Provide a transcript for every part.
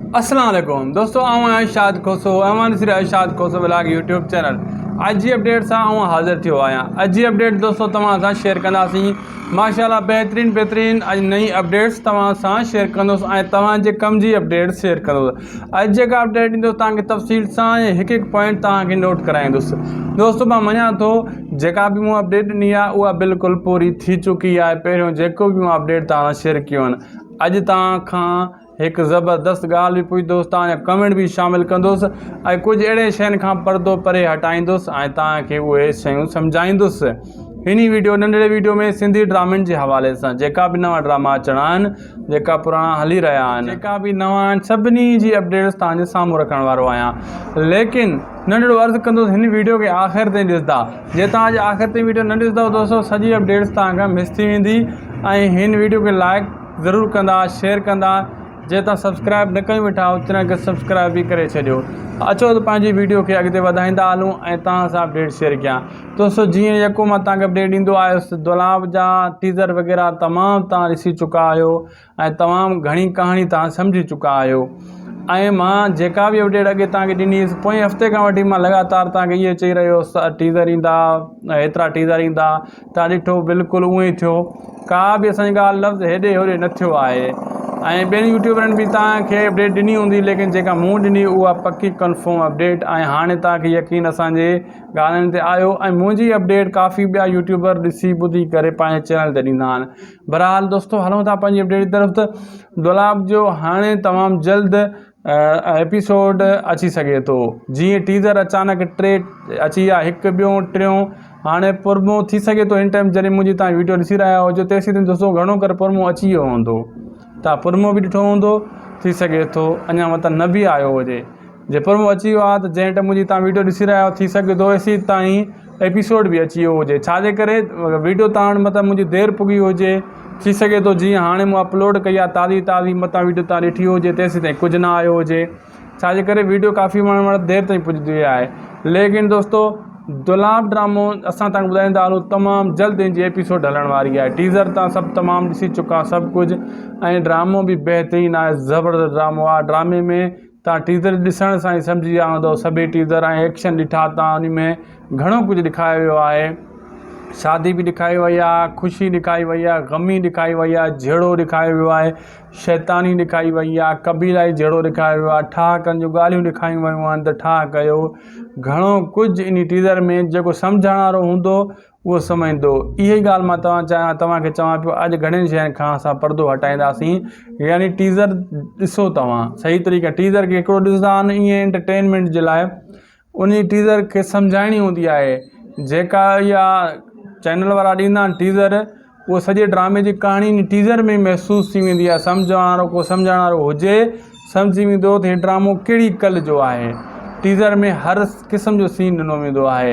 اسلام عليڪم دوستو آئون آهيان شاد کوسو اوهان ڏسي رهيا Shad Khoso vlog YouTube channel اڄ جي اپڊيٽ سان آئون حاضر ٿيو آهيان اڄ جي اپڊيٽ دوستو توهان سان شيئر ڪنداسين ماشاءالله بهترين بهترين اڄ نئين اپڊيٽس توهان سان شيئر ڪندوس ۽ توهان جي ڪم جي اپڊيٽ شيئر ڪندوس اڄ جيڪا اپڊيٽ ڏيندو توهان کي تفصيل سان هڪ هڪ پوائنٽ توهان کي نوٽ ڪرائيندوس دوستو مان مڃان ٿو جيڪا به مون اپڊيٽ ڏني آهي اها بالڪل پوري ٿي چڪي آهي پهريون جيڪو به مون اپڊيٽ توهان سان شيئر ڪيون اڄ توهان کان هڪ زبردست ڳالهه به پوئين دوستان جا ڪمينٽ به شامل ڪندس ۽ ڪجهه اهڙين شين کان پردو پري هٽائيندس ۽ توهان کي اهي شيون سمجهائيندس هني ويڊيو ننڍڙي ويڊيو ۾ سنڌي ڊرامن جي حوالي سان جيڪا به نوان ڊراما اچڻا آهن جيڪا پراڻا هلي رهيا آهن جيڪا به نوان آهن سڀني جي اپڊيٽس توهان جي سامهون رکڻ وارو آهيان ليڪن ننڍڙو عرض ڪندس هن ويڊيو کي آخر تائين ڏسندا جي توهان جي آخر تائين ويڊيو نه ڏسندا دوستو سڄي اپڊيٽس توهان کان مس ٿي ويندي ۽ هن ويڊيو کي لائق ضرور ڪندا شيئر ڪندا جي تان سبسڪرائب نه ڪيون ويٺا آهيو تنهن کي سبسڪرائب به ڪري ڇڏيو اچو ته پنهنجي ويڊيو کي اڳتي وڌائيندا هلون ۽ تهان سان اپڊيٽ شيئر ڪيان دوستو جيئن يڪو مان تهان کي اپڊيٽ ڏيندو آيس دولاب جا ٽيزر وغيرا تمام تهان ڏسي چڪا آهيو ۽ تمام گهڻي ڪهاڻي تهان سمجهي چڪا آهيو ۽ مان جيڪا به اپڊيٽ اڳي تهان کي ڏني هيس پوئين هفتي کان وٺي مان لڳاتار تهان کي اهي چئي رهيو هيس ٽيزر ايندا هيترا ٽيزر ايندا ٿا ڏٺو بلڪل اهو ئي ٿيو ڪا به اسان جي ڳالهه لفظ هيڏي هوري نه ٿيو آهي ۽ ٻين يوٽيوبرن به توهان کي اپڊيٽ ڏني هوندي ليڪن جيڪا مون ڏني اها پڪي ڪنفرم اپڊيٽ ۽ هاڻي توهان کي يقين اسان جي ڳالهين تي آيو ۽ منهنجي اپڊيٽ ڪافي ٻيا يوٽيوبر ڏسي ٻڌي ڪري پنهنجي چينل تي ڏيندا آهن بهرحال دوستو هلون ٿا پنهنجي اپڊيٽ جي طرف ته دولاب جو هاڻي تمام جلد ايپيسوڊ اچي سگهي ٿو جي ٽيزر اچانڪ ٽي اچي ويا هڪ ٻيو ٽيون هاڻي پرمو ٿي سگهي ٿو هن ٽائيم جڏهن منهنجي تان ويڊيو ڏسي رهيا هجو تيسين تائين دوستو گهڻو ڪري پرمو اچي ويو هوندو تان پرمو به ڏٺو هوندو ٿي سگهي ٿو اڃا مطلب نه به آيو هجي جي پرمو اچي ويو آهي ته جنهن ٽائيم منهنجي تان ويڊيو ڏسي رهيا ٿي سگهي ٿو ايسين تائين ايپيسوڊ به اچي ويو هجي ڇا جي ڪري ويڊيو تارڻ متان منهنجي دير پڳي هجي ٿي سگهي ٿو جيئن هاڻي مون اپلوڊ ڪئي آهي تازي تازي متان ويڊيو تان ڏٺي هجي تيسين تائين ڪجهه نه آيو هجي ڇا جي ڪري ويڊيو ڪافي ماڻهن وٽ دير تائين پڄندي آهي ليڪن دوستو دولاب ڊرامو اسان تان ٻڌائيندا هلون تمام جلد ان جي ايپيسوڊ هلڻ واري آهي ٽيزر تان سڀ تمام ڏسي چڪا سڀ ڪجهه ۽ ڊرامو به بهترين آهي زبردست ڊرامو آهي ڊرامي ۾ تان ٽيزر ڏسڻ سان ئي سمجهي ويا هوندؤ سڀئي ٽيزر ۽ ايڪشن ڏٺا تان انهي ۾ گهڻو ڪجهه ڏيکايو ويو آهي شادي به ڏيکاري وئي آهي خوشي ڏيکاري وئي آهي غمي ڏيکاري وئي آهي جهيڙو ڏيکاري ويو آهي شيطاني ڏيکاري وئي آهي قبيلائي جهيڙو ڏيکاري ويو آهي ٺاهڪن جون ڳالهيون ڏيکاريون ويون آهن ته ٺاهه ڪيو گهڻو ڪجهه انهي ٽيزر ۾ جيڪو سمجهڻ وارو هوندو اهو سمجهندو. اهي ئي ڳالهه مان توهان چاهيان توهان کي چوان پيو اڄ گهڻين شين کان اسان پردو هٽائينداسين يعني ٽيزر ڏسو توهان صحيح طريقي ٽيزر کي هڪڙو ڏسندا آهن ايئن انٽرٽينمينٽ جي لاء انهي ٽيزر کي سمجهائڻي هوندي آهي جيڪا اها چينل وارا ڏيندا آهن ٽيزر اهو سڄي ڊرامي جي ڪهاڻي ان ٽيزر ۾ ئي محسوس ٿي ويندي آهي. سمجهڻ وارو ڪو سمجهڻ وارو هجي، سمجهي ويندو ته هي ڊرامو ڪهڙي ڪل جو آهي. ٽيزر ۾ هر قسم جو سين ڏنو ويندو آهي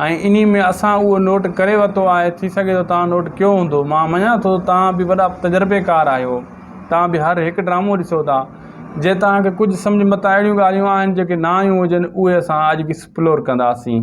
۽ انهي ۾ اسان اهو نوٽ ڪري ورتو آهي، ٿي سگهي ٿو توهان نوٽ ڪيو هوندو. مان مڃان ٿو ته توهان به وڏا تجربيڪار آهيو. توهان به هر هڪ ڊرامو ڏسو ٿا. جي توهان کي ڪجهه سمجهه متان اهڙيون ڳالهيون آهن جيڪي نه آيون هجن، اهي اسان اڄ ايڪسپلور ڪنداسين.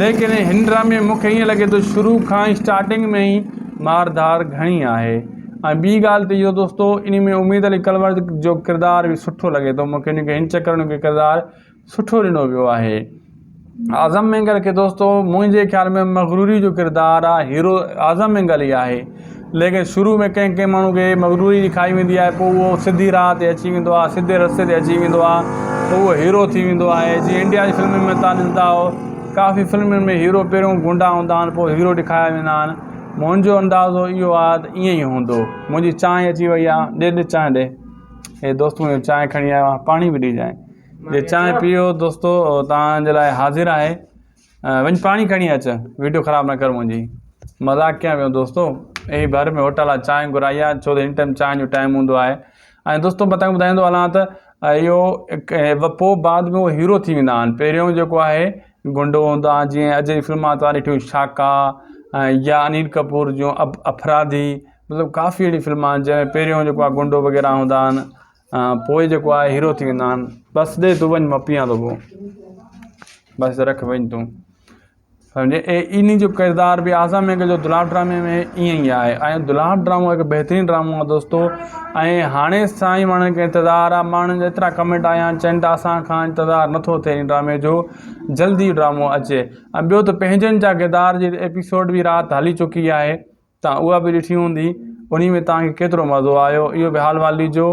ليڪن هن ڊرامي ۾ مون کي ائين لڳي ٿو شروع کان ئي اسٽارٽنگ ۾ ئي مار ڌار گهڻي آهي ۽ ٻي ڳالهه ته اهو دوستو ان ۾ اميد علي ڪلور جو ڪردار به سٺو لڳي ٿو مون کي ان کي هن چڪر ان کي ڪردار سٺو ڏنو ويو آهي اعظم مينگل کي دوستو منهنجي خيال ۾ مغروري جو ڪردار آهي هيرو اعظم مينگل ئي آهي ليڪن شروع ۾ ڪنهن ڪنهن ماڻهو کي مغروري جي کائي ويندي آهي پوء اهو سڌي راهه تي اچي ويندو آهي سڌي رستي تي اچي ويندو آهي ته اهو هيرو ٿي ويندو آهي جيئن انڊيا جي فلمن ۾ تان ڏسندا آهيو ڪافي فلمن ۾ هيرو پهريون گونڊا هوندا آهن پوء هيرو ڏيکاريا ويندا آهن منهنجو اندازو اهو آهي ته ائين ئي هوندو منهنجي چانهه اچي وئي آهي ڏي ڏي چانهه ڏي هي دوست منهنجو چانهه کڻي آيو آهي پاڻي به ڏيجانء جي چانهه پيئو دوستو تان جي لاء حاضر آهي وڃ پاڻي کڻي اچ ويڊيو خراب نه ڪر منهنجي مذاق ڪيان پيو دوستو اي ڀر ۾ هوٽل آ چانهه گهرائي آ ڇو هن ٽائيم چانهه جو ٽائيم هوندو آهي ۽ دوستو متان ٻڌائيندو هلان ته اهو پو بعد ۾ هيرو ٿي ويندا آهن پهريون جيڪو آهي گنڊو هوندو آهي جيئن اجي فلم آ تواري ٺيو شاڪا يا انيل ڪپور جو افرادي مطلب ڪافي اهڙي فلم آهن جنهن پهريون جيڪو آهي گنڊو وغيره هوندا آهن پوء جيڪو آهي هيرو ٿي ويندا آهن بس ڏي تون وڃ مان پيئان ٿو پو بس رک وڃ تون سمجهي اي ان جو ڪردار بي اعظم مينگهه جو دلال ڊرامي ۾ ائين ئي آهي ۽ دلال ڊرامو هڪ بهترين ڊرامو آهي دوستو ۽ هاڻي سائين ماڻهن کي انتظار آهي ماڻهن جا ايترا ڪمينٽ آيا آهن چئن ٿا اسان کان انتظار نٿو ٿئي ان ڊرامي جو جلدي ڊرامو اچي ۽ ٻيو ته پنهنجن جا ڪردار جي ايپيسوڊ بي رات هلي چڪي آهي توهان اها به ڏٺي هوندي انهي ۾ توهان کي ڪيترو مزو آيو اهو به حال وال ڏجو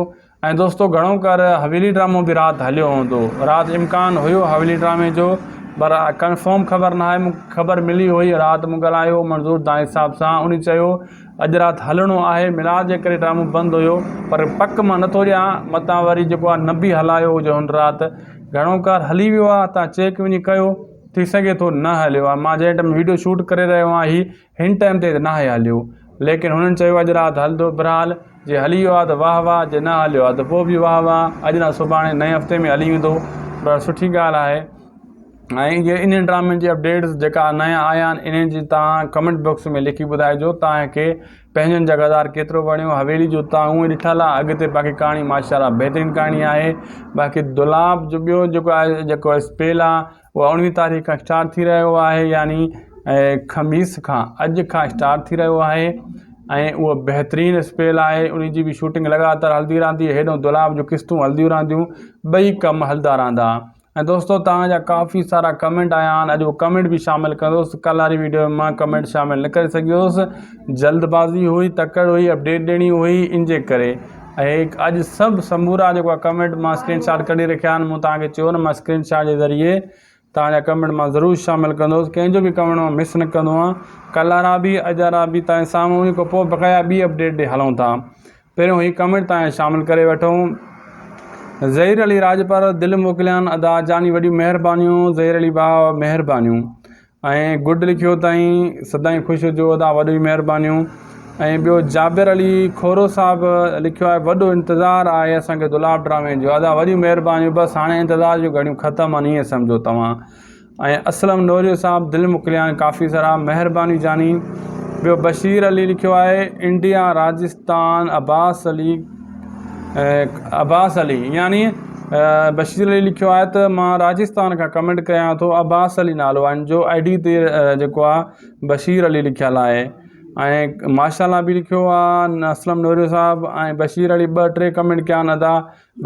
۽ دوستو گهڻو ڪر حويلي ڊرامو به رات هليو هوندو رات امڪان هيو حويلي ڊرامي جو پر ڪنفرم خبر نه آهي مونکي خبر ملي هئي رات مون ڳالهايو منظور دانش صاحب سان انهي چيو اڄ رات هلڻو آهي ميلاد جي ڪري ڊرامو بند هيو پر پڪ مان نٿو ڏيان متان وري جيڪو آهي نه به هلايو هجي هن رات گهڻو ڪر هلي ويو آهي توهان چيڪ وڃي ڪيو ٿي سگهي ٿو نه هليو آهي مان جنهن ٽائيم وڊيو شوٽ ڪري رهيو آهي هن ٽائيم تي ته ناهي هليو ليڪن هنن چيو اڄ رات هلندو برحال جي هلي ويو آ ته واه واه جي نه هليو آ ته پوء به واه واه اڄ نه سڀاڻي نئين هفتي ۾ هلي ويندو پر سٺي ڳالهه آهي ۽ جي انهن ڊرامن جي اپڊيٽس جيڪا نيا آيا آهن انهن جي توهان ڪمينٽ بڪس ۾ لکي ٻڌائجو توهان کي پنهنجن جا غزار ڪيترو وڻيو حويلي جو توهان اونهي ڏٺل آ اڳتي باقي ڪهاڻي ماشاءالله بهترين ڪهاڻي آهي باقي دولاب جو ٻيو جيڪو آهي جيڪو اسپيل آ اهو اڻويهين تاريخ کان اسٽارٽ ٿي رهيو آهي يعني خميس کان اڄ کان اسٽارٽ ٿي رهيو آهي ۽ اهو بهترين اسپيل آهي ان جي به شوٽنگ لڳاتار هلندي رهندي هيڏو دولاب جو قسطون هلنديون رهنديون ٻئي ڪم هلدا رهندا ۽ دوستو توهان جا ڪافي سارا ڪمنٽ آيا آهن اڄ اهو ڪمنٽ به شامل ڪندوس ڪل واري ويڊيو مان ڪمنٽ شامل نه ڪري سگهيوس جلد بازي هئي تڪڙ هئي اپڊيٽ ڏيڻي هئي ان جي ڪري اهي اڄ سڀ سمورا جيڪو آ ڪمينٽ مان اسڪرين شاٽ ڪڍي رکيا آهن مون توهان کي چيو نه مان اسڪرين شاٽ جي ذريعي توهان جا ڪمينٽ مان ضرور شامل ڪندوس ڪنهن جو به ڪمينٽ مان مس نه ڪندو آهيان ڪل وارا به اڄ وارا به توهان جي سامهون ان کان پوء بقايا ٻي اپڊيٽ ڏي هلون ٿا پهريون هي ڪمينٽ توهان شامل ڪري وٺون ظهير علي راڄپر دل موڪليان ادا جاني وڏيون مهربانيون ظهير علي ڀاء مهربانيون ۽ گڊ لکيو تائين سدائين خوش هجو ادا وڏيون مهربانيون ۽ ٻيو جابر علي کورو صاحب لکيو آهي وڏو انتظار آهي اسان کي دولاب ڊرامي جو ادا وڏيون مهربانيون بس هاڻي انتظار جون گهڙيون ختم آهن ائين سمجهو توهان ۽ اسلم نوريو صاحب دل مڪليان ڪافي سارا مهربانيون جاني ٻيو بشير علي لکيو آهي انڊيا راجستان عباس علي عباس علي يعني بشير علي لکيو آهي ته مان راجستان کان ڪمينٽ ڪريان ٿو عباس علي نالو آهن جو آئي ڊي تي جيڪو آ بشير علي لکيل آهي ۽ ماشاءالله به لکيو آهي اسلم نوريو صاحب ۽ بشير علي ٻه ٽي ڪمينٽ ڪيا آهن ادا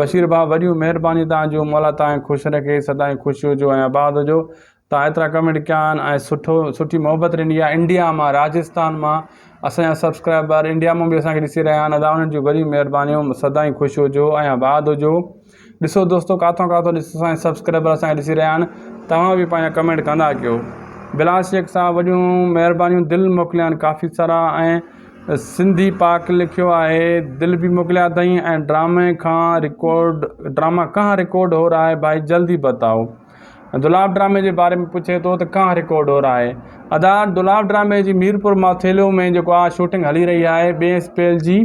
بشير ڀاء وڏيون مهربانيون تانجو مولا تانکي خوش رکي سدائين خوش هجو ۽ آباد هجو تان ايترا ڪمينٽ ڪيا آھن ۽ سٺو سٺي محبت ڏني آھي انڊيا مان راجستان مان اسانجا سبسڪرائبر انڊيا مون به اسانکي ڏسي رھيا آھن ادا انھن جون وڏيون مھربانيون سدائين خوش ھجو ۽ آباد ھجو ڏسو دوستو ڪاٿو ڪاٿو ڏس اسانجا سبسڪرائبر اسانکي ڏسي رھيا آھن توھان به پنھنجا ڪمينٽ ڪندا ڪيو بلال شيخ صاحب وڏيون مھربانيون دل موڪليا آھن ڪافي سارا ۽ سنڌي پاڪ لکيو آھي دل به موڪليا اٿئي ۽ ڊرامي کان رڪارڊ ڊراما ڪھان رڪارڊ ھو رھا ھي ڀائي جلدي بتائو دولاب ڊرامي جي باري ۾ پڇي ٿو ته ڪانه رڪوڊور آهي ادا دولاب ڊرامي جي ميرپور ماٿيلو ۾ جيڪو آ شوٽنگ هلي رهي آهي ٻئي اسپيل جي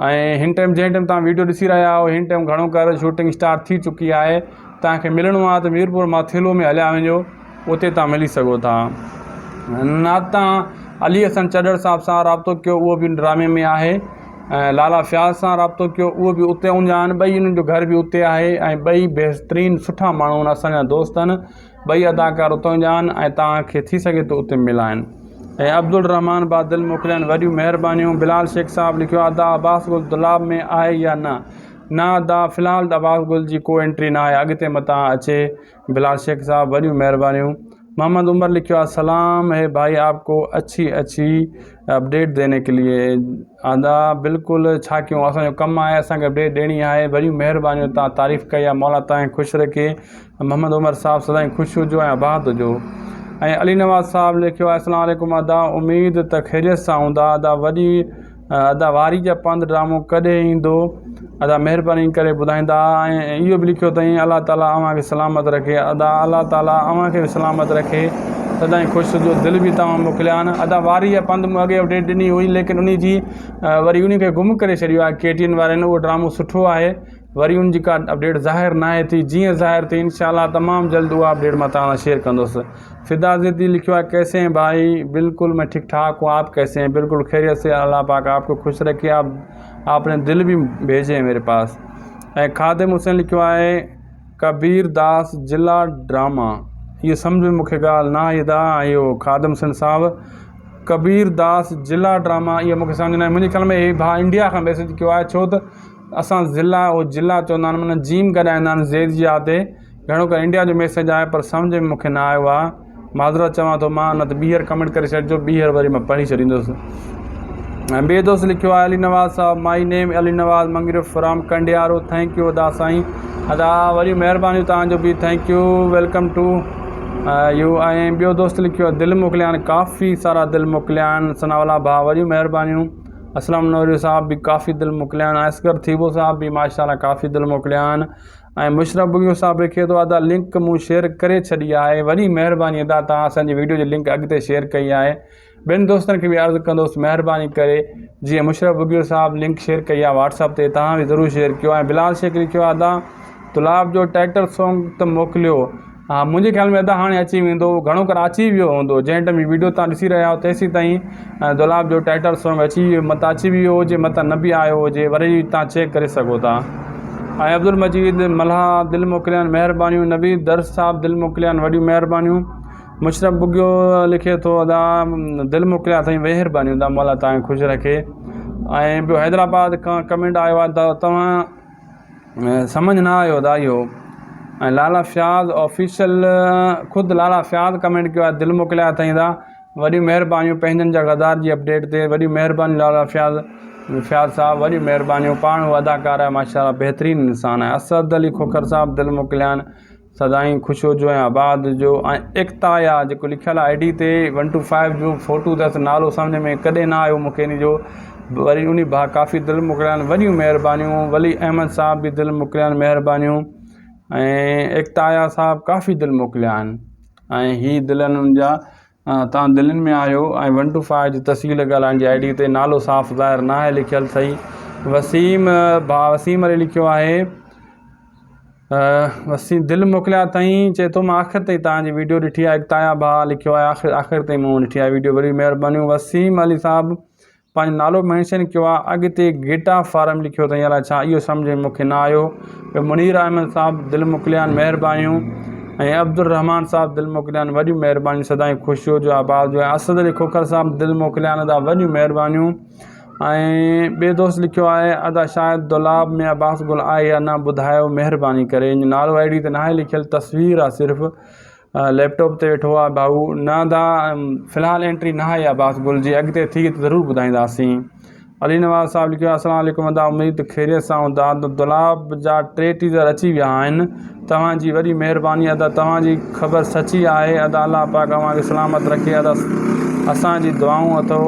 ۽ هن ٽائم جنهن ٽائم تان ويڊيو ڏسي رهيا آهو هن ٽائم گهڻو ڪر شوٽنگ اسٽارٽ ٿي چڪي آهي تان کي ملڻو آهي ته ميرپور ماٿيلو ۾ هليا وڃو اتي تان ملي سگهو ٿا نات تان علي حسن چڏڙ صاحب سان رابطو ڪيو اهو به ڊرامي ۾ آهي ۽ لالا فياض سان رابطو ڪيو اهو به اتي اونجا آهن ٻئي انهن جو گهر به اتي آهي ۽ ٻئي بهترين سٺا ماڻهو آهن اسان جا دوست آهن ٻئي اداڪار اتان جا آهن ۽ توهان کي ٿي سگهي ٿو اتي ملائن ۽ عبدالرحمان بادل موڪليائين وڏيون مهربانيون بلال شيخ صاحب لکيو ادا عباس گل دولاب ۾ آهي يا نه نه ادا في الحال عباس گل جي ڪو انٽري نه آهي اڳتي متان اچي بلال شيخ صاحب وڏيون مهربانيون. محمد عمر لکيو آهي سلام هي ڀائي آپ ڪو اڇي اڇي اپڊيٽ ديني ڪي ليي ادا بلڪل ڇا ڪيون اسان جو ڪم آهي اسان کي اپڊيٽ ڏيڻي آهي وڏيون مهربانيون تان تعريف ڪئي آهي مولا تان کي خوش رکي محمد عمر صاحب سدائين خوش هجو ۽ آباد هجو ۽ علي نواز صاحب لکيو آهي اسلام عليڪم ادا اميد ته خيريت سان هوندا ادا وڏي ادا واري جا پنڌ ڊرامو ڪڏهن ايندو ادا مهرباني ڪري ٻڌائيندا ۽ اهو به لکيو اٿئي الله تعالي اوهان کي سلامت رکي ادا الله تعالي اوهان کي به سلامت رکي سدائين خوش هجو دل به توهان موڪليا آهن ادا واري جا پنڌ مون اڳي اپڊيٽ ڏني هئي ليڪن ان جي وري ان کي گم ڪري ڇڏيو آهي ڪي ٽي وين وارن اهو ڊرامو سٺو آهي وري ان جي ڪا اپڊيٽ ظاهر ناهي ٿي جيئن ظاهر ٿي انشاء الله تمام جلد اها اپڊيٽ مٿان توهان سان شيئر ڪندوس فدا زيدي لکيو آهي ڪيسي هين ڀائي بلڪل مين ٺيڪ ٺاڪ هون آپ ڪيسي هين بلڪل خيريت سي الله پاڪ آپ کي خوش رکي آپ آپ ني دل به ڀيجي ميري پاس ۽ خادم حسين لکيو آهي ڪبير داس جلا ڊراما هي سمجھ ۾ مونکي ڳالهه نه آئي ادا اهو خادم حسين صاحب ڪبير داس جلا ڊراما اهو مونکي سمجھ نه آئي منهنجي خيال ۾ هي ڀاء انڊيا کان ميسيج ڪيو آهي ڇو ته اسان ضلع او جلع چوندا آهن معنيٰ جيم گڏائيندا آهن زير جي آ تي گهڻو ڪري انڊيا جو ميسيج آهي پر سمجهه ۾ مونکي نه آيو آهي معذرت چوان ٿو مان نه ته ٻيهر ڪمينٽ ڪري ڇڏجو ٻيهر وري مان پڙهي ڇڏيندوسي ۽ ٻئي دوست لکيو آهي علي نواز صاحب مائي نيم Ali Nawaz Mangraf from Kandiaro thank you ادا سائين ادا وڏيون مهربانيون توهان جو به thank you welcome to you ۽ ٻيو دوست لکيو آهي دل موڪليان ڪافي سارا دل موڪليان ثناء الله ڀاء وڏيون مهربانيون اسلم نوري صاحب به ڪافي دل موڪليان اصغر ٿيٻو صاحب به ماشاءالله ڪافي دل موڪليان ۽ مشرف بگيو صاحب لکي ٿو ادا لنڪ مون شيئر ڪري ڇڏي آهي وڏي مهرباني ادا توهان اسان جي ويڊيو جي لنڪ اڳتي شيئر ڪئي آهي ٻين دوستن کي به عرض ڪندوس مهرباني ڪري جيئن مشرف بگيو صاحب لنڪ شيئر ڪئي آهي واٽس اپ تي توهان به ضرور شيئر ڪيو ۽ بلال شيخ لکيو ادا تلاب جو ٽائٽل سانگ ته موڪليو ها منهنجي خيال ۾ ادا هاڻي اچي ويندو گهڻو ڪر اچي ويو هوندو جنهن ٽيم هي ويڊيو توهان ڏسي رهيا آهيو تيسين تائين دولاب جو ٽائيٽل سونگ اچي ويو متان اچي ويو هجي متان نه به آيو هجي وري توهان چيڪ ڪري سگهو ٿا ۽ عبدالمجيد ملاح دل موڪليان مهربانيون نويد درس صاحب دل موڪليان وڏيون مهربانيون مشرف بگيو لکي ٿو ادا دل موڪليان سائين مهربانيون ادا مولا توهان کي خوش رکي ۽ ٻيو حيدرآباد کان ڪمينٽ آيو آهي توهان سمجھ نه آيو ادا اهو ۽ لالا فياض آفيشل خود لالا فياض ڪمينٽ ڪيو آهي دل موڪليا اٿائين ادا وڏيون مهربانيون پنهنجن جا غدار جي اپڊيٽ تي وڏيون مهربانيون لالا فياض فياض صاحب وڏيون مهربانيون پاڻ هو اداڪار آهي ماشاء الله بهترين انسان آهي اسد علي کوکر صاحب دل موڪليا آهن سدائين خوش هجو ۽ آباد هجو ۽ ايڪتا يا جيڪو لکيل آهي آئي ڊي تي ون ٽو فائيو جو فوٽو اٿس نالو سمجهه ۾ ڪڏهن نه آيو مونکي ان جو وري انهي ڀا ڪافي دل موڪليائين وڏيون مهربانيون ولي احمد صاحب به دل موڪليائين مهربانيون ۽ ايڪتا يا صاحب ڪافي دل موڪليائين ۽ هي دل انهن جا تان دلين ۾ آيو ۽ ون ٽو فائو جي تسجيل ڳالهائڻ جي آئي ڊي تي نالو صاف ظاهر نه آهي لکيل صحيح وسيم ڀاء وسيم علي لکيو آهي وسيم دل موڪليا اٿئي چئي ٿو مان آخر تائين تان جي ويڊيو ڏٺي آهي تايا ڀاء لکيو آهي آخر آخر تائين مون ڏٺي آهي ويڊيو وڏي مهربانيون وسيم علي صاحب پنهنجو نالو مينشن ڪيو آ اڳتي گيٽا فارم لکيو اٿئي الا ڇا اهو سمجهه ۾ مونکي نه آيو ٻيو منير احمد صاحب دل موڪليان مهربانيون ۽ عبدالرحمان صاحب دل موڪليان وڏيون مهربانيون سدائين خوش هجو آباد هجو ۽ اسد علي کوکر صاحب دل موڪليان ادا وڏيون مهربانيون ۽ ٻي دوست لکيو آهي ادا شايد دولاب ۾ عباس گل آهي يا نه ٻڌايو مهرباني ڪري نالو آئي ڊي تي ناهي لکيل تصوير آ صرف ليپ ٽاپ تي ويٺو آهي ڀائو نه ادا في الحال اينٽري نه آئي آهي باس گل جي اڳتي ٿي ته ضرور ٻڌائينداسين علي نواز صاحب لکيو آهي السلام عليڪم ادا اميد ته خيريت سان هوندا ادا دولاب جا ٽي ٽيزر اچي ويا آهن توهان جي وڏي مهرباني ادا توهان جي خبر سچي آهي ادا الله پاڪ اوهان کي سلامت رکي ادا اسان جي دعائون اٿو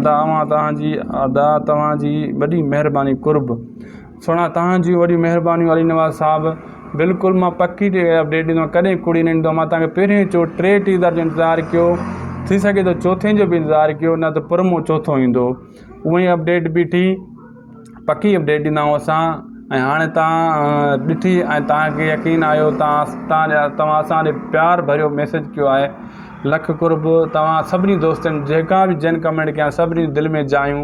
ادا اوهان توهان جي ادا توهان جي وڏي مهرباني قرب سھڻا تهان جون وڏيون مھربانيون علي نواز صاحب بلڪل مان پڪي اپڊيٽ ڏيندو آھيان ڪڏھن ڪوڙي نه ڏيندو آھيان مان تهان کي پهرين چو ٽي ٽيزر جو انتظار ڪيو ٿي سگهي ٿو چوٿين جو به انتظار ڪيو نه ته پرمو چوٿو ايندو ھونء ئي اپڊيٽ بيٺي پڪي اپڊيٽ ڏيندا آھيون اسان ۽ ھاڻي تهان ڏٺي ۽ تهان کي يقين آيو تهان تهان جا تهان اسان ڏي پيار ڀريو ميسيج ڪيو آھي لک قرب تهان سڀني دوستن جيڪا به جن ڪمينٽ ڪيا سڀني جي دل ۾ جايون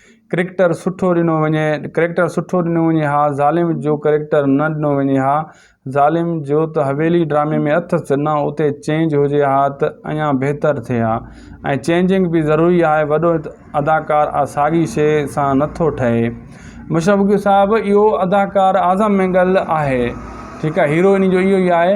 ڪريڪٽر سٺو ڏنو وڃي ڪريڪٽر سٺو ڏنو وڃي ها ظالم جو ڪريڪٽر نه ڏنو وڃي ها ظالم جو ته حويلي ڊرامي ۾ اٿس نه اتي چينج هجي ها ته اڃا بهتر ٿئي ها ۽ چينجنگ به ضروري آهي وڏو اداڪار آ ساڳي شي سان نٿو ٺهي مشرف صاحب اهو اداڪار اعظم مينگل آهي ٺيڪ آهي هيرو انهي جو اهو ئي آهي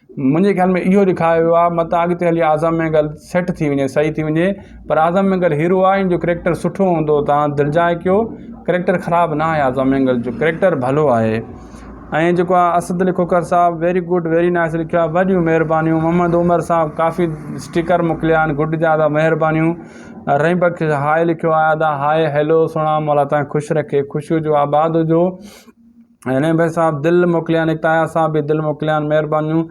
منهنجي خيال ۾ اهو ڏيکايو ويو آهي متان اڳتي هلي اعظم مينگل سيٽ ٿي وڃي صحيح ٿي وڃي پر اعظم مينگل هيرو آهي ان جو ڪريڪٽر سٺو هوندو تان دلجاء ڪيو ڪريڪٽر خراب نه آهي اعظم مينگل جو ڪريڪٽر ڀلو آهي ۽ جيڪو آهي اسد علي کوکر صاحب ويري گڊ ويري نائس لکيو آهي وڏيون مهربانيون محمد عمر صاحب ڪافي اسٽيڪر موڪليا آهن گڊ جا ادا مهربانيون رحيم بخش هاء لکيو آهي ادا هاء هيلو سهڻا مولا تان خوش رکي خوش هجو آباد هجو هينئر بي صاحب دل موڪليان اڪتايا صاحب به دل موڪليان مهربانيون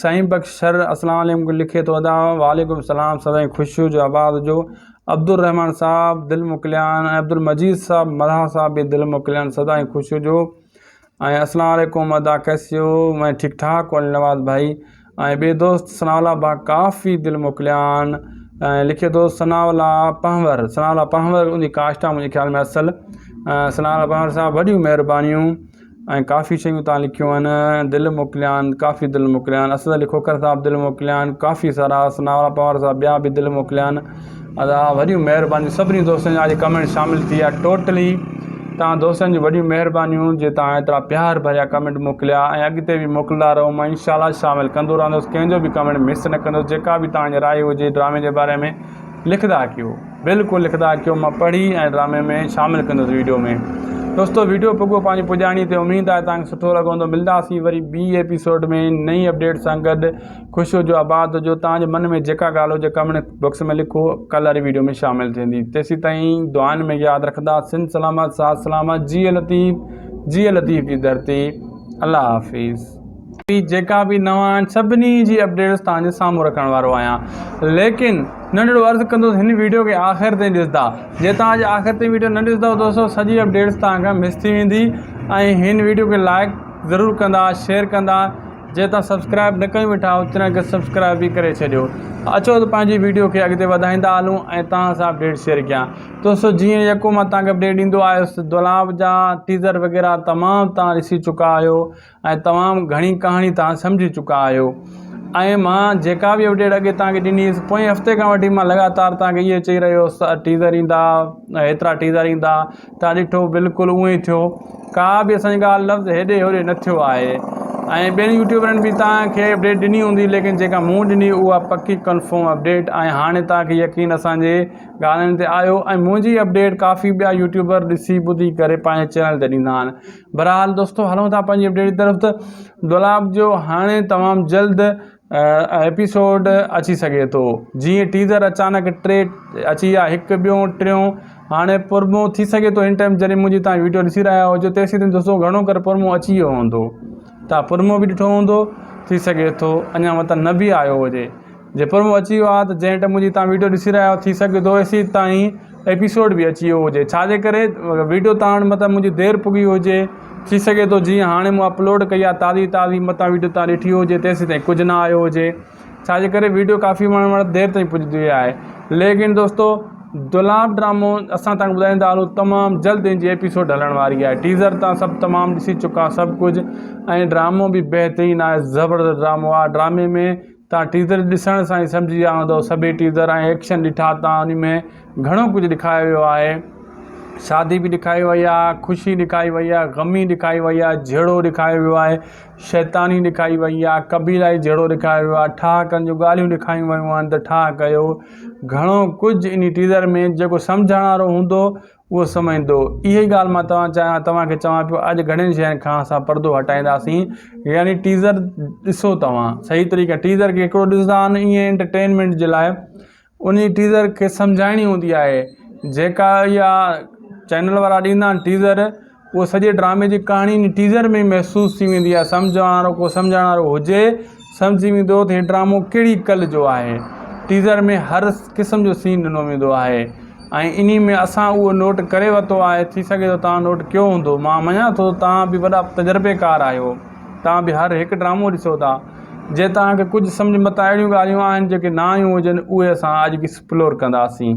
سائين بخش شر اسلام عليڪم لکي ٿو ادا وعليڪم السلام سدائين خوش هجو آباد هجو عبدالرحمان صاحب دل موڪليان ۽ عبدالمجيد صاحب ملاح صاحب به دل موڪليان سدائين خوش هجو ۽ اسلام عليڪم ادا ڪيسي هو مين ٺيڪ ٺاڪ هو علي نواز ڀائي ۽ ٻئي دوست ثناء الله با ڪافي دل موڪليان ۽ لکي ٿو ثناء الله پنهور ثناء الله پنهور ان جي ڪاسٽ آ منهنجي خيال ۾ اصل ثناء الله پنهور صاحب وڏيون مهربانيون ۽ ڪافي شيون تان لکيون آهن دل موڪليان ڪافي دل موڪليان اسد علي کوکر صاحب دل موڪليان ڪافي سارا ثناء الله پنهور صاحب ٻيا به دل موڪليان ادا وڏيون مهربانيون سڀني دوستن جا اڄ ڪمينٽ شامل ٿي ويا ٽوٽلي تهان دوستن جون وڏيون مهربانيون جي تهان ايترا پيار ڀريا ڪمينٽ موڪليا ۽ اڳتي به موڪلندا رهو مان انشاء الله شامل ڪندو رهندس ڪنهن جو به ڪمينٽ مس نه ڪندس جيڪا به تهان جي راء هجي ڊرامي جي باري ۾ لکدا ڪيو بلڪل لکدا ڪيو مان پڙهي ۽ ڊرامي ۾ شامل ڪندس ويڊيو ۾ دوستو ويڊيو پڳو پنهنجي پڄاڻي تي اميد آهي تهان کي سٺو لڳو هوندو ملنداسين وري ٻي ايپيسوڊ ۾ نئين اپڊيٽ سان گڏ خوش هجو آباد هجو توهان جي من ۾ جيڪا ڳالهه هجي ڪمينٽ بڪس ۾ لکو ڪل واري ويڊيو ۾ شامل ٿيندي تيسي تائين دعائن ۾ ياد رکندا سن سلامت سات سلامت جي لطيف جي لطيف جي ڌرتي الله حافظ جيڪا به نوان آهن سڀني جي اپڊيٽس تان جي سامهون رکڻ وارو آهيان ليڪن ننڍڙو عرض ڪندو هن ويڊيو کي آخر تائين ڏسدا جي تان جي آخر تائين ويڊيو نه ڏسدا تو سو سڄي اپڊيٽس تان کان مس ٿي ويندي ۽ هن ويڊيو کي لائڪ ضرور ڪندا شيئر ڪندا جي توهان سبسڪرائب نه ڪيون ويٺا آهيو تنهن کي سبسڪرائب به ڪري ڇڏيو اچو ته پنهنجي ويڊيو کي اڳتي وڌائيندا هلون ۽ توهان سان اپڊيٽ شيئر ڪيان دوستو جيئن يڪو مان توهان کي اپڊيٽ ڏيندو آيس دولاب جا ٽيزر وغيره تمام توهان ڏسي چڪا آهيو ۽ تمام گهڻي ڪهاڻي توهان سمجهي چڪا آهيو ۽ مان جيڪا به اپڊيٽ اڳي توهان کي ڏني هيس پوئين هفتي کان وٺي مان لڳاتار توهان کي اهي چئي رهيو هيس ٽيزر ايندا هيترا ٽيزر ايندا ٿا ڏٺو بلڪل اهو ئي ٿيو ڪا به اسان جي ڳالهه لفظ هيڏي هوڏي نه ٿيو آهي ۽ ٻين يوٽيوبرن به توهان کي اپڊيٽ ڏني هوندي ليڪن جيڪا مون ڏني اها پڪي ڪنفرم اپڊيٽ ۽ هاڻي توهان کي يقين اسان جي ڳالهين تي آيو ۽ منهنجي اپڊيٽ ڪافي ٻيا يوٽيوبر ڏسي ٻڌي ڪري پنهنجي چينل تي ڏيندا آهن بهرحال دوستو هلون ٿا پنهنجي اپڊيٽ جي طرف ته دولاب جو هاڻي تمام جلد ايپيسوڊ اچي سگهي ٿو جيئن ٽيزر اچانڪ ٽي اچي ويا هڪ ٻيو ٽيون هاڻي پرمو ٿي سگهي ٿو ان ٽائيم جڏهن منهنجي تان ويڊيو ڏسي رهيا هجو تيسين تائين دوستو گهڻو ڪري پرمو اچي ويو هوندو تان پرمو به ڏٺو هوندو ٿي سگهي ٿو اڃا متان نه به آيو هجي جي پرمو اچي ويو آهي ته جنهن ٽائيم منهنجي تان ويڊيو ڏسي رهيا آهيو ٿي سگهي ٿو ايسين تائين ايپيسوڊ به اچي ويو هجي ڇا جي ڪري ويڊيو تاڻ متان منهنجي دير پڳي هجي ٿي سگهي ٿو جيئن هاڻي مون اپلوڊ ڪئي آهي تازي تازي متان ويڊيو تان ڏٺي هجي تيسين تائين ڪجهه نه آيو هجي ڇا جي ڪري ويڊيو ڪافي ماڻهن وٽ دير تائين پڄندي وئي آهي ليڪن دوستو دولاب ڊرامو اسان تان ٻڌائيندا هلو تمام جلد ان جي ايپيسوڊ هلڻ واري آهي ٽيزر تان سڀ تمام ڏسي چڪا سڀ ڪجهه ۽ ڊرامو به بهترين آهي زبردست ڊرامو آهي ڊرامي ۾ تان ٽيزر ڏسڻ سان ئي سمجهي ويا هوندؤ سڀئي ٽيزر ۽ ايڪشن ڏٺا تان انهي ۾ گهڻو ڪجهه ڏيکاريو ويو آهي شادي به ڏيکاري وئي آهي خوشي ڏيکاري وئي آهي غمي ڏيکاري وئي آهي جهيڙو ڏيکاريو ويو آهي شيطاني ڏيکاري وئي آهي قبيلائي جهيڙو ڏيکاريو ويو آهي ٺاهڪن جون ڳالهيون ڏيکاريون ويون آهن ته ٺاهه ڪيو گهڻو ڪجهه انهي ٽيزر ۾ جيڪو سمجهڻ وارو هوندو اهو سمجهندو. اهي ئي ڳالهه مان توهان چاهيان توهان کي چوان پيو اڄ گهڻين شين کان اسان پردو هٽائينداسين يعني ٽيزر ڏسو توهان صحيح طريقي ٽيزر کي هڪڙو ڏسندا آهن ايئن انٽرٽينمينٽ جي لاء انهي ٽيزر کي سمجهائڻي هوندي آهي جيڪا اها چينل وارا ڏيندا آهن ٽيزر اهو سڄي ڊرامي جي ڪهاڻي ان ٽيزر ۾ ئي محسوس ٿي ويندي آهي. سمجهڻ وارو ڪو سمجهڻ وارو هجي سمجهي ويندو ته هي ڊرامو ڪهڙي ڪل جو آهي. ٽيزر ۾ هر قسم جو سين ڏنو ويندو آهي ۽ انهي ۾ اسان اهو نوٽ ڪري ورتو آهي ٿي سگهي ٿو توهان نوٽ ڪيو هوندو مان مڃان ٿو ته توهان به وڏا تجربيڪار آهيو توهان به هر هڪ ڊرامو ڏسو ٿا جي توهان کي ڪجهه سمجهه متان اهڙيون ڳالهيون آهن جيڪي نه آيون هجن اهي اسان اڄ ايڪسپلور ڪنداسين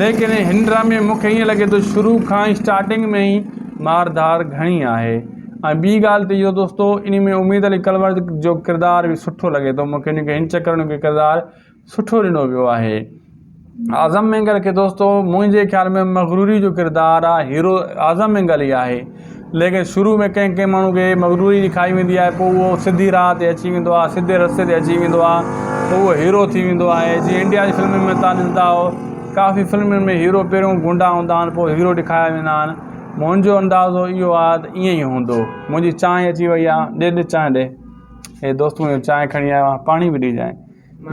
ليڪن هن ڊرامي ۾ مون کي ائين لڳي ٿو شروع کان ئي اسٽارٽنگ ۾ ئي مار ڌار گهڻي آهي ۽ ٻي ڳالهه ته اهو دوستو ان ۾ اميد علي ڪلور جو ڪردار به سٺو لڳي ٿو مون کي ان کي هن چڪر ان کي ڪردار سٺو ڏنو ويو آهي اعظم مينگل کي دوستو منهنجي خيال ۾ مغروري جو ڪردار آهي هيرو اعظم مينگل ئي آهي ليڪن شروع ۾ ڪنهن ڪنهن ماڻهو کي مغروري جي کائي ويندي آهي پوء اهو سڌي راهه تي اچي ويندو آهي سڌي رستي تي اچي ويندو آهي ته اهو هيرو ٿي ويندو آهي جيئن انڊيا جي فلمن ۾ تان ڏسندا آهيو ڪافي فلمن ۾ هيرو پهريون گونڊا هوندا آهن پوء هيرو ڏيکاريا ويندا آهن منهنجو اندازو اهو آهي ته ائين ئي هوندو منهنجي چانهه اچي وئي آهي ڏي ڏي چانهه ڏي هي دوست منهنجو چانهه کڻي آيو آهي پاڻي به ڏيجانء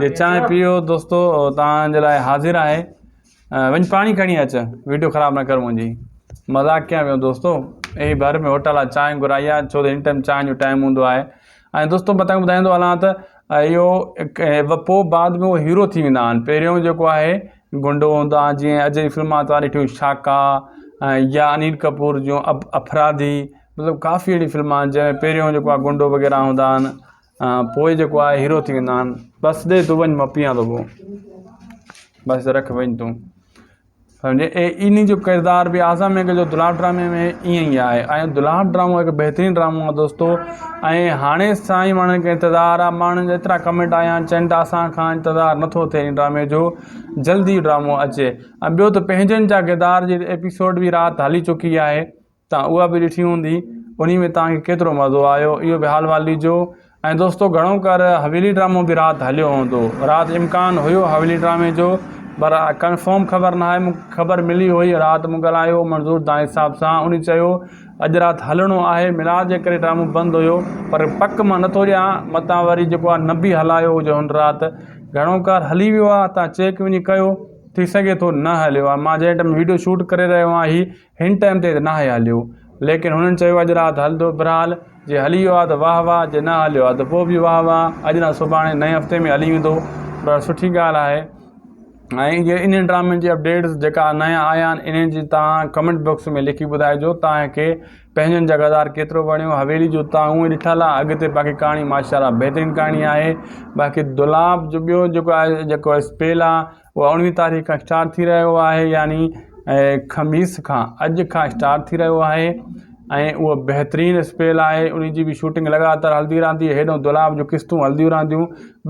جي چانهه پيئو دوستو تان جي لاء حاضر آهي وڃ پاڻي کڻي اچ ويڊيو خراب نه ڪر منهنجي مذاق ڪيان پيو دوستو اي ڀر ۾ هوٽل آ چانهه گهرائي آ ڇو هن ٽائيم چانهه جو ٽائيم هوندو آهي ۽ دوستو متان ٻڌائيندو هلان ته اهو پو بعد ۾ هيرو ٿي ويندا آهن پهريون جيڪو آهي گنڊو هوندو آهي جيئن اڄ جي فلمان توهان ڏٺيون شاکا يا انيل ڪپور جون افرادي مطلب ڪافي اهڙي فلمان جنهن پهريون جيڪو آهي گنڊو وغيره هوندا آهن پوء جيڪو آهي هيرو ٿي ويندا آهن بس ڏي تون وڃ مان پيئان ٿو پو بس رک وڃ تون سمجهي اي ان جو ڪردار بي اعظم مينگهه جو دلال ڊرامي ۾ ائين ئي آهي ۽ دلال ڊرامو هڪ بهترين ڊرامو آهي دوستو ۽ هاڻي سائين ماڻهن کي انتظار آهي ماڻهن جا ايترا ڪمينٽ آيا آهن چئن ٿا اسان کان انتظار نٿو ٿئي ان ڊرامي جو جلدي ڊرامو اچي ۽ ٻيو ته پنهنجن جا ڪردار جي ايپيسوڊ بي رات هلي چڪي آهي توهان اها به ڏٺي هوندي انهي ۾ توهان کي ڪيترو مزو آيو اهو به حال وال ڏجو ۽ دوستو گهڻو ڪر حويلي ڊرامو به رات هليو هوندو رات امڪان هيو حويلي ڊرامي جو پر ڪنفرم خبر نه آهي مونکي خبر ملي هئي رات مون ڳالهايو منظور دانهيج صاحب سان انهي چيو اڄ رات هلڻو آهي ميلاد جي ڪري ڊرامو بند هيو پر پڪ مان نٿو ڏيان متان وري جيڪو آهي نه به هلايو هجي هن رات گهڻو ڪر هلي ويو آهي توهان چيڪ وڃي ڪيو ٿي سگهي ٿو نه هليو آهي مان جنهن ٽائيم وڊيو شوٽ ڪري رهيو آهي هن ٽائيم تي ته ناهي هليو ليڪن هنن چيو اڄ رات هلندو برحال جي هلي ويو آ ته واه واه جي نه هليو آ ته پوء به واه واه اڄ نه سڀاڻي نئين هفتي ۾ هلي ويندو پر سٺي ڳالهه آهي ۽ جي انهن ڊرامن جي اپڊيٽس جيڪا نيا آيا آهن انهن جي توهان ڪمينٽ بڪس ۾ لکي ٻڌائجو توهان کي پنهنجن جا ڪردار ڪيترو وڻيو حويلي جو توهان اونهي ڏٺل آ اڳتي باقي ڪهاڻي ماشاءالله بهترين ڪهاڻي آهي باقي دولاب جو ٻيو جيڪو آهي جيڪو اسپيل آ اهو اڻويهين تاريخ کان اسٽارٽ ٿي رهيو آهي يعني خميس کان اڄ کان اسٽارٽ ٿي رهيو آهي ۽ اهو بهترين اسپيل آهي ان جي به شوٽنگ لڳاتار هلندي رهندي هيڏو دولاب جون قسطون هلنديون رهنديون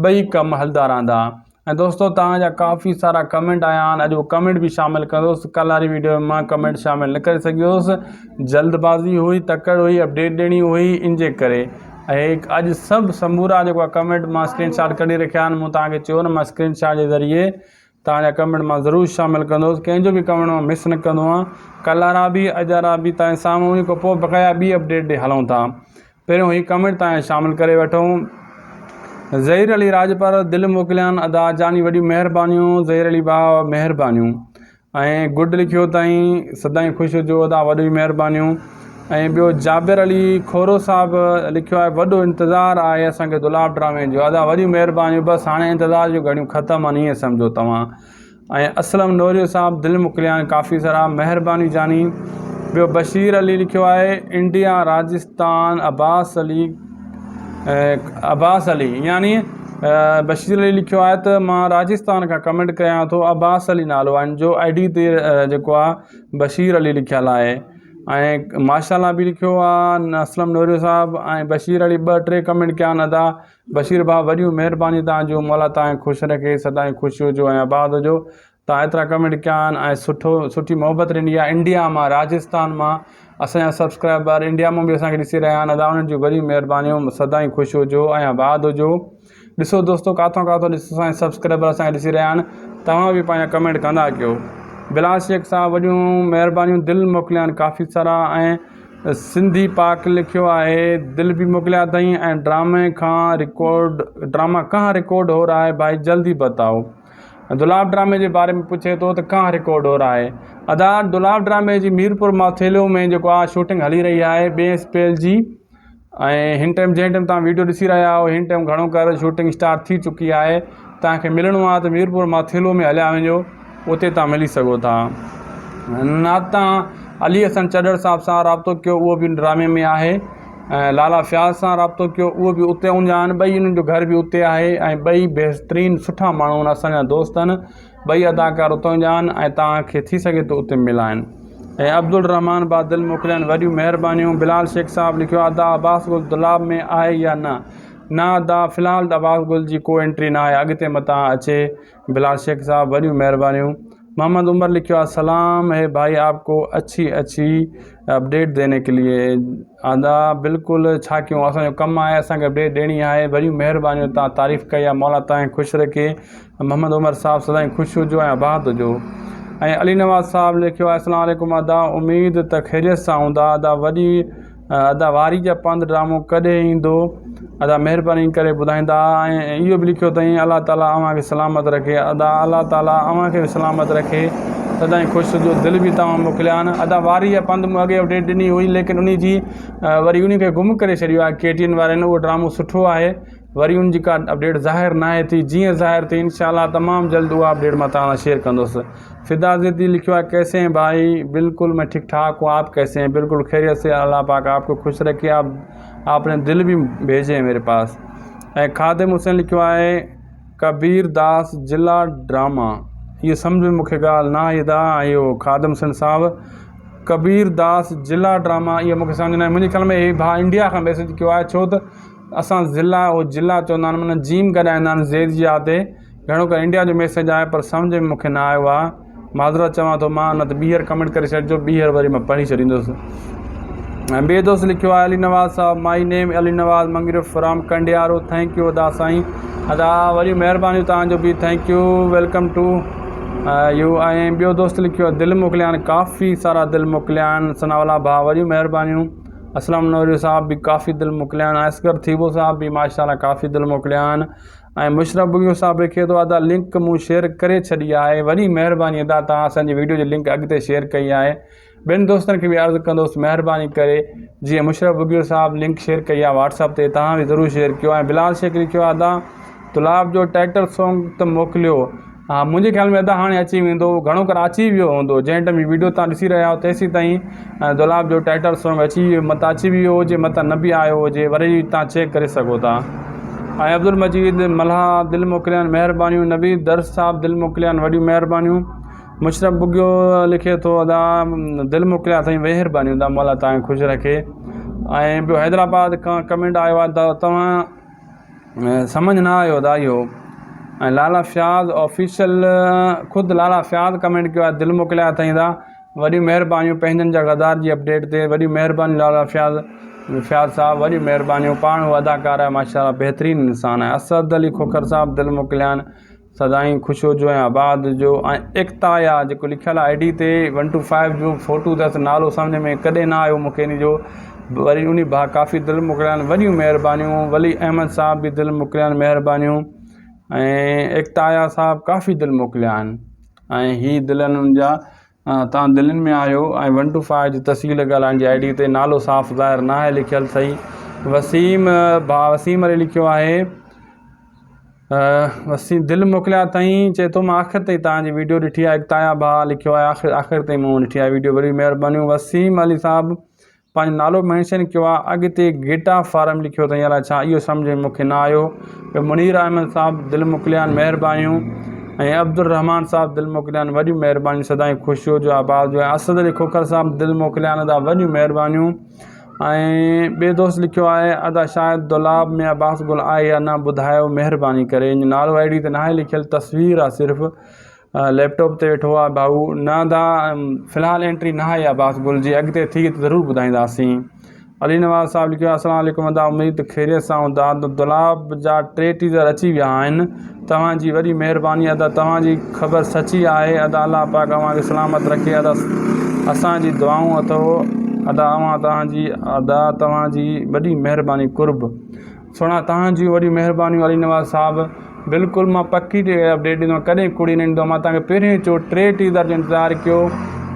ٻئي کم هلدا رهندا ۽ دوستو توهان جا ڪافي سارا ڪمنٽ آيا آهن اڄ اهو ڪمنٽ به شامل ڪندوس ڪل واري ويڊيو مان ڪمنٽ شامل نه ڪري سگهيوس جلد بازي هئي تڪڙ هئي اپڊيٽ ڏيڻي هئي ان جي ڪري اهي اڄ سڀ سمورا جيڪو آ ڪمينٽ مان اسڪرين شاٽ ڪڍي رکيا آهن مون توهان کي چيو نه مان اسڪرين شاٽ جي ذريعي توهان جا ڪمينٽ مان ضرور شامل ڪندوس ڪنهن جو به ڪمينٽ مان مس نه ڪندو آهيان ڪل وارا به اڄ وارا به توهان جي سامهون انهي کان پوء بقايا ٻي اپڊيٽ ڏي هلون ٿا پهريون هي ڪمينٽ توهان شامل ڪري وٺون ظهير علي راڄپر دل موڪليان ادا جاني وڏيون مهربانيون ظهير علي ڀاء مهربانيون ۽ گڊ لکيو تائين سدائين خوش هجو ادا وڏيون مهربانيون ۽ ٻيو جابر علي کورو صاحب لکيو آهي وڏو انتظار آهي اسان کي دولاب ڊرامي جو ادا وڏيون مهربانيون بس هاڻي انتظار جون گهڙيون ختم آهن ائين سمجهو توهان ۽ اسلم نوريو صاحب دل مڪليان ڪافي سارا مهرباني جاني ٻيو بشير علي لکيو آهي انڊيا راجستان عباس علي عباس علي يعني بشير علي لکيو آهي ته مان راجستان کان ڪمينٽ ڪريان ٿو عباس علي نالو آهن جو آئي ڊي تي جيڪو آهي بشير علي لکيل آهي ۽ ماشا الله به لکيو آهي اسلم نوريو صاحب ۽ بشير علي ٻه ٽي ڪمينٽ ڪيا آهن ادا بشير ڀاء وڏيون مهربانيون تانجو مولا تانکي خوش رکي سدائين خوش هجو ۽ آباد هجو تان ايترا ڪمينٽ ڪيا آهن ۽ سٺو سٺي محبت ڏني آهي انڊيا مان راجستان مان اسانجا سبسڪرائبر انڊيا مان به اسانکي ڏسي رهيا آهن ادا انهن جون وڏيون مهربانيون سدا ئي خوش هجو ۽ آباد هجو ڏسو دوستو ڪاٿو ڪاٿو ڏسو اسانجا سبسڪرائبر اسانکي ڏسي رهيا آهن توهان به پنهنجا ڪمينٽ ڪندا ڪيو بلال شيخ صاحب وڏيون مهربانيون دل موڪليا آهن ڪافي سارا ۽ سنڌي پاڪ لکيو آهي دل به موڪليا اٿئي ۽ ڊرامي کان رڪارڊ ڊراما ڪهان رڪارڊ هو رها هي ڀائي جلدي بتائو دولاب ڊرامي جي باري ۾ پڇي ٿو ته ڪانه رڪارڊ هو رهائي ادا دولاب ڊرامي جي ميرپور ماٿيلو ۾ جيڪو آ شوٽنگ هلي رهي آهي ٻئي اسپيل جي ۽ هن ٽائم جنهن ٽائم تان ويڊيو ڏسي رهيا آهو هن ٽائم گهڻو ڪر شوٽنگ اسٽارٽ ٿي چڪي آهي تان کي ملڻو آ ته ميرپور ماٿيلو ۾ هليا وڃو اتي تان ملي سگهو ٿا نات تان علي حسن چڏڙ صاحب سان رابطو ڪيو اهو به ڊرامي ۾ آهي ۽ لالا فياض سان رابطو ڪيو اهو به اتي اونجا آهن ٻئي انهن جو گهر به اتي آهي ۽ ٻئي بهترين سٺا ماڻهو آهن اسانجا دوست آهن ٻئي اداڪار اتان جا آهن ۽ توهان کي ٿي سگهي ٿو اتي ملائن ۽ عبدالرحمان با دل موڪليا آهن وڏيون مهربانيون بلال شيخ صاحب لکيو ادا عباس گل دولاب ۾ آهي يا نه نه ادا في الحال عباس گل جي ڪو انٽري ناهي اڳتي متان اچي بلال شيخ صاحب وڏيون مهربانيون. محمد عمر لکيو آهي سلام هي ڀائي آپ ڪو اڇي اڇي اپڊيٽ ديني ڪي ليي ادا بلڪل ڇا ڪيون اسان جو ڪم آهي اسان کي اپڊيٽ ڏيڻي آهي وڏيون مهربانيون تان تعريف ڪئي آهي مولا تان کي خوش رکي محمد عمر صاحب سدائين خوش هجو ۽ آباد هجو ۽ علي نواز صاحب لکيو آهي اسلام عليڪم ادا اميد ته خيريت سان هوندا ادا وڏي ادا واري جا پنڌ ڊرامو ڪڏهن ايندو ادا مهرباني ڪري ٻڌائيندا ۽ اهو به لکيو اٿئي الله تعالي اوهان کي سلامت رکي ادا الله تعالي اوهان کي به سلامت رکي سدائين خوش هجو دل به توهان موڪليا آهن ادا واري جا پنڌ مون اڳي اپڊيٽ ڏني هئي ليڪن ان جي وري ان کي گم ڪري ڇڏيو آهي ڪي ٽي اين وارن اهو ڊرامو سٺو آهي وري ان جي ڪا اپڊيٽ ظاهر ناهي ٿي جيئن ظاهر ٿي انشاء الله تمام جلد اها اپڊيٽ مٿان توهان سان شيئر ڪندوس فدا زيدي لکيو آهي ڪيسي هين ڀائي بلڪل مين ٺيڪ ٺاڪ هون آپ ڪيسي هين بلڪل خيريت سي الله پاڪ آپ کي خوش رکي آپ آپ ني دل به ڀيجي ميري پاس ۽ خادم حسين لکيو آهي ڪبير داس جلا ڊراما هي سمجھ ۾ مونکي ڳالهه نه آئي ادا اهو خادم حسين صاحب ڪبير داس جلا ڊراما اهو مونکي سمجھ نه آئي منهنجي خيال ۾ هي ڀاء انڊيا کان ميسيج ڪيو آهي ڇو ته اسان ضلع او جلع چوندا آهن معنيٰ جيم گڏائيندا آهن زير جي آ تي گهڻو ڪري انڊيا جو ميسيج آهي پر سمجهه ۾ مونکي نه آيو آهي معذرت چوان ٿو مان نه ته ٻيهر ڪمينٽ ڪري ڇڏجو ٻيهر وري مان پڙهي ڇڏيندس ۽ ٻئي دوست لکيو آهي علي نواز صاحب مائي نيم Ali Nawaz Mangraf from Kandiaro thank you ادا سائين ادا وڏيون مهربانيون توهان جو به thank you welcome to you ۽ ٻيو دوست لکيو آهي دل موڪليان ڪافي سارا دل موڪليان ثناء الله ڀاء وڏيون مهربانيون اسلم نوري صاحب به ڪافي دل موڪليان اصغر ٿيٻو صاحب به ماشاءالله ڪافي دل موڪليان ۽ مشرف بگيو صاحب لکي ٿو ادا لنڪ مون شيئر ڪري ڇڏي آهي وڏي مهرباني ادا توهان اسان جي ويڊيو جي لنڪ اڳتي شيئر ڪئي آهي ٻين دوستن کي به عرض ڪندوس مهرباني ڪري جيئن مشرف بگيو صاحب لنڪ شيئر ڪئي آهي واٽس اپ تي توهان به ضرور شيئر ڪيو ۽ بلال شيخ لکيو ادا تلاب جو ٽائٽل سانگ ته موڪليو ها منهنجي خيال ۾ ادا هاڻي اچي ويندو گهڻو ڪر اچي ويو هوندو جنهن ٽيم هي ويڊيو توهان ڏسي رهيا آهيو تيسين تائين دولاب جو ٽائيٽل سونگ اچي ويو مت اچي ويو هجي مت نه به آيو هجي وري توهان چيڪ ڪري سگهو ٿا ۽ عبدالمجيد ملاح دل موڪليان مهربانيون نويد درس صاحب دل موڪليان وڏيون مهربانيون مشرف بگيو لکي ٿو ادا دل موڪليان سائين مهربانيون ادا مولا توهان خوش رکي ۽ ٻيو حيدرآباد کان ڪمينٽ آيو آهي توهان سمجھ نه آيو ادا اهو ۽ لالا فياض آفيشل خود لالا فياض ڪمينٽ ڪيو آهي دل موڪليا اٿائين ادا وڏيون مهربانيون پنهنجن جا غدار جي اپڊيٽ تي وڏيون مهربانيون لالا فياض فياض صاحب وڏيون مهربانيون پاڻ هو اداڪار آهي ماشاء الله بهترين انسان آهي اسد علي کوکر صاحب دل موڪليا آهن سدائين خوش هجو ۽ آباد هجو ۽ ايڪتا يا جيڪو لکيل آهي آئي ڊي تي ون ٽو فائيو جو فوٽو اٿس نالو سمجهه ۾ ڪڏهن نه آيو مونکي ان جو وري انهي ڀا ڪافي دل موڪليائين وڏيون مهربانيون ولي احمد صاحب به دل موڪليائين مهربانيون ۽ ايڪتا يا صاحب ڪافي دل موڪليائين ۽ هي دل انهن جا تان دلين ۾ آيو ۽ ون ٽو فائو جي تسجيل ڪيل آهن جي آئي ڊي تي نالو صاف ظاهر نه آهي لکيل صحيح وسيم ڀاء وسيم علي لکيو آهي وسيم دل موڪليا اٿئي چئي ٿو مان آخر تائين تان جي ويڊيو ڏٺي آهي اڪتايا ڀاء لکيو آهي آخر آخر تائين مون ڏٺي آهي ويڊيو وڏي مهربانيون وسيم علي صاحب پنهنجو نالو مينشن ڪيو آ اڳتي گيٽا فارم لکيو اٿئي الا ڇا اهو سمجهه ۾ مونکي نه آيو ٻيو منير احمد صاحب دل موڪليان مهربانيون ۽ عبدالرحمان صاحب دل موڪليان وڏيون مهربانيون سدائين خوش هجو آباد هجو ۽ اسد علي کوکر صاحب دل موڪليان ادا وڏيون مهربانيون ۽ ٻي دوست لکيو آهي ادا شايد دولاب ۾ عباس گل آهي يا نه ٻڌايو مهرباني ڪري نالو آئي ڊي تي ناهي لکيل تصوير آ صرف ليپ ٽاپ تي ويٺو آ ڀائو. نه ادا في الحال انٽري نه آئي آ باس گل جي اڳتي ٿي ته ضرور ٻڌائينداسين. علي نواز صاحب لکيو آ السلام عليڪم ادا اميد ته خيريت سان هوندا ادا دولاب جا ٽي ٽيزر اچي ويا آهن توهان جي وڏي مهرباني ادا توهان جي خبر سچي آهي ادا الله پاڪ اوهان کي سلامت رکي ادا اسان جي دعائون اٿو ادا اوهان توهان جي ادا توهان جي وڏي مهرباني قرب. سهڻا توهان جون وڏيون مهربانيون علي نواز صاحب بلڪل مان پڪي اپڊيٽ ڏيندو ڪڏهن ڪوڙي نه ڏيندو مان تان کي پهريون چو ٽي ٽيزر جو انتظار ڪيو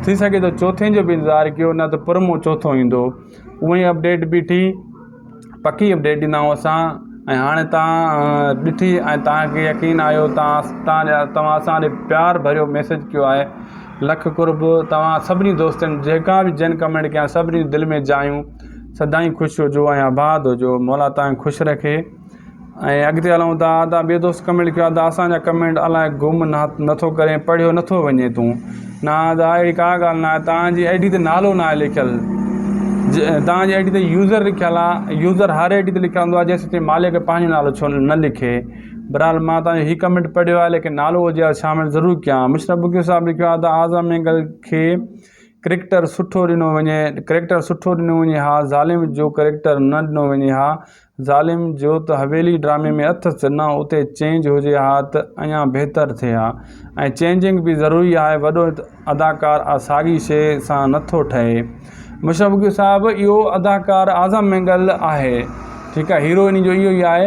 ٿي سگهي ٿو چوٿين جو به انتظار ڪيو نه ته پرمو چوٿو ايندو اهو ئي اپڊيٽ بيٺي پڪي اپڊيٽ ڏيندا آهيون اسان ۽ هاڻي تان ڏٺي ۽ تان کي يقين آيو تان توهان اسان ڏي پيار ڀريو ميسج ڪيو آهي لک قرب توهان سڀني دوستن جيڪا به جن ڪمينٽ ڪيا سڀني دل ۾ جايون سدائين خوش هجو ۽ آباد هجو مولا توهان کي خوش رکي ۽ اڳتي هلون ٿا ادا ٻيو دوست ڪمينٽ ڪيو ادا اسان جا ڪمينٽ الاء گم نٿو ڪرين پڙهيو نٿو وڃي تون نه ادا اهڙي ڪا ڳالهه نه آهي توهان جي آئي ڊي تي نالو نه آهي لکيل توهان جي آئي ڊي تي يوزر لکيل آهي يوزر هر آئي ڊي تي لکيل هوندو جيسين تائين مالڪ پنهنجو نالو ڇو نه لکي برحال مان توهان جو هي ڪمينٽ پڙهيو آهي ليڪن نالو هجي ها شامل ضرور ڪيان مشرف بگيو صاحب لکيو ادا اعظم مينگل کي ڪريڪٽر سٺو ڏنو وڃي ڪريڪٽر سٺو ڏنو وڃي ها ظالم جو ڪريڪٽر نه ڏنو وڃي ها ظالم جو ته حويلي ڊرامي ۾ اٿس نه اتي چينج هجي ها ته اڃا بهتر ٿئي ها ۽ چينجنگ به ضروري آهي وڏو اداڪار آ ساڳي شي سان نٿو ٺهي مشرف صاحب اهو اداڪار اعظم مينگل آهي ٺيڪ آهي هيرو انهي جو اهو ئي آهي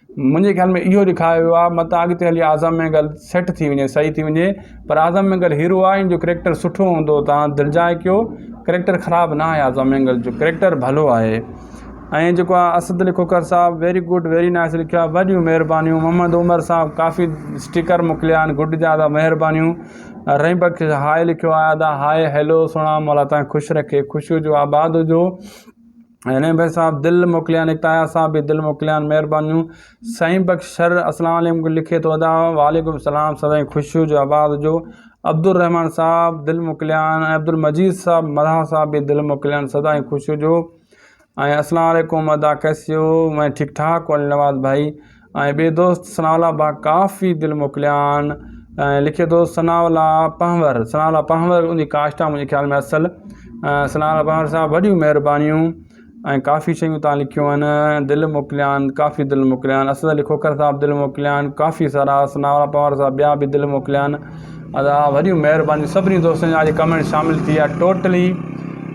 منهنجي خيال ۾ اهو ڏيکايو ويو آهي متان اڳتي هلي اعظم مينگل سيٽ ٿي وڃي صحيح ٿي وڃي پر اعظم مينگل هيرو آهي ان جو ڪريڪٽر سٺو هوندو تان دلجاء ڪيو ڪريڪٽر خراب نه آهي اعظم مينگل جو ڪريڪٽر ڀلو آهي ۽ جيڪو آهي اسد علي کوکر صاحب ويري گڊ ويري نائس لکيو آهي وڏيون مهربانيون محمد عمر صاحب ڪافي اسٽيڪر موڪليا آهن گڊ جا ادا مهربانيون رحيم بخش هاء لکيو آهي ادا هاء هيلو سهڻا مولا تان خوش رکي خوش هجو آباد هجو هينئر بخش صاحب دل موڪليان اڪتايا صاحب به دل موڪليان مهربانيون سائين بخش شر اسلام عليڪم لکي ٿو ادا وعليڪم السلام سدائين خوش هجو آباد هجو عبدالرحمان صاحب دل موڪليان ۽ عبدالمجيد صاحب مرها صاحب به دل موڪليان سدائين خوش هجو ۽ اسلام عليڪم ادا ڪيسي هو مين ٺيڪ ٺاڪ هو علي نواز ڀائي ۽ ٻئي دوست ثناء الله با ڪافي دل موڪليان ۽ لکي ٿو ثناء الله پنهور ثناء الله پنهور ان جي ڪاسٽ آ منهنجي خيال ۾ اصل ثناء الله پنهور صاحب وڏيون مهربانيون ۽ ڪافي شيون تان لکيون آهن دل موڪليان ڪافي دل موڪليان اسد علي کوکر صاحب دل موڪليان ڪافي سارا ثناء الله پنهور صاحب ٻيا به دل موڪليان ادا وڏيون مهربانيون سڀني دوستن جا اڄ ڪمينٽ شامل ٿي ويا ٽوٽلي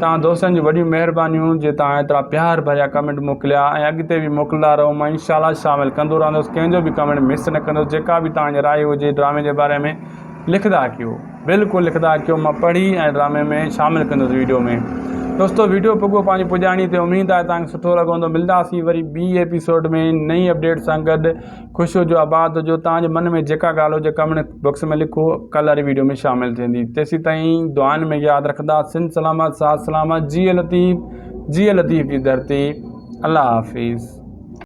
تان دوستن جي وڏيون مهربانيون جي تان ايترا پيار ڀريا ڪمينٽ موڪليا ۽ اڳتي به موڪلندا رهو مان ان شاء الله شامل ڪندو رهندس ڪنهن جو به ڪمينٽ مس نه ڪندس جيڪا به تان جي راء هجي ڊرامي جي باري ۾ لکدا ڪيو بلڪل لکدا ڪيو مان پڙهي ۽ ڊرامي ۾ شامل ڪندس ويڊيو ۾ دوستو ويڊيو پڳو پنهنجي پڄاڻي تي اميد آهي تان سٺو لڳو هوندو ملدا سي وري بي ايپيسوڊ ۾ نئين اپڊيٽ سان گڏ خوش هجو آباد هجو توهان جي من ۾ جيڪا ڳالهه هجي ڪمينٽ بڪس ۾ لکو ڪل واري ويڊيو ۾ شامل ٿيندي تيسي تائين دعائن ۾ ياد رکندا سن سلامت سات سلامت جي لطيف جي لطيف جي درتي الله حافظ